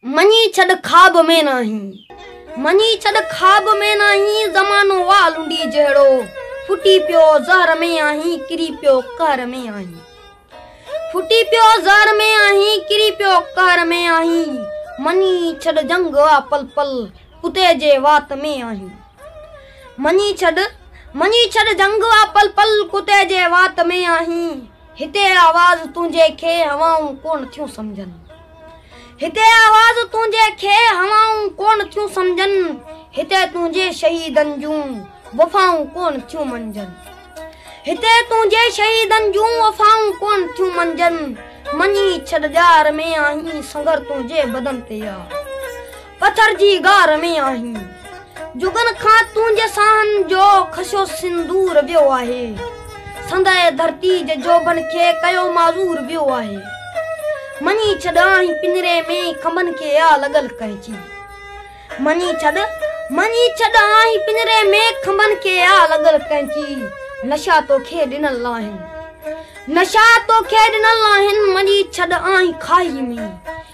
مڃي ڇڏ خواب ۾ ناهين مڃي ڇڏ خواب ۾ ناهين زمانو آ لنڊي جهڙو ڦٽي پيو زهر ۾ آهين ڪري پيو قهر ۾ آهين ڦٽي پيو زهر ۾ آهين ڪري پيو قهر ۾ آهين مڃي ڇڏ جنگ آ پل پل ڪتي جي وات ۾ آهين مڃي ڇڏ مڃي ڇڏ جنگ آ پل پل ڪتي جي وات ۾ آهين هتي آواز تنهنجي کي هوائون ڪونه ٿيون سمجهن هتي آواز تنهنجي کي هوائون ڪونه ٿيون سمجهن هتي تنهنجي شهيدن جون وفائون ڪونه ٿيون منجن هتي تنهنجي شهيدن جون وفائون ڪونه ٿيون منجن مڃي ڇڏ ڄار ۾ آهين سنگر تنهنجي بدن تي يار پٿر جي غار ۾ آهين. جڳن کان تنهنجي ساهن جو خشو سندور ويو آهي. سندهه ڌرتي جي جوڀن کي ڪيو معذور ويو آهي. مڃي ڇڏ آهين پڃري ۾ کنڀن کي آ لڳل ڪهجي. مڃي ڇڏ، مڃي ڇڏ آهين پڃري ۾ کنڀن کي آ لڳل ڪهجي. نشا توکي ڏنل آهن. نشا توکي ڏنل آهن مڃي ڇڏ آهين کاهي ۾.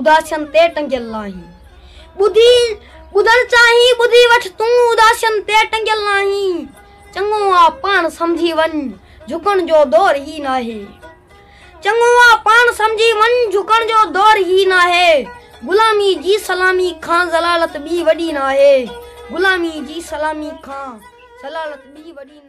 اداسين تي ٽنگيل ناهين ٻڌي ٻڌڻ چاهين ٻڌي وٺ تون اداسين تي ٽنگيل ناهين چڱو آ پاڻ سمجهي وڃ جهڪڻ جو دور هي ناهي چڱو آ پاڻ سمجهي وڃ جهڪڻ جو دور هي ناهي غلامي جي سلامي کان ذلالت ٻي وڏي ناهي غلامي جي سلامي کان ذلالت ٻي وڏي ناهي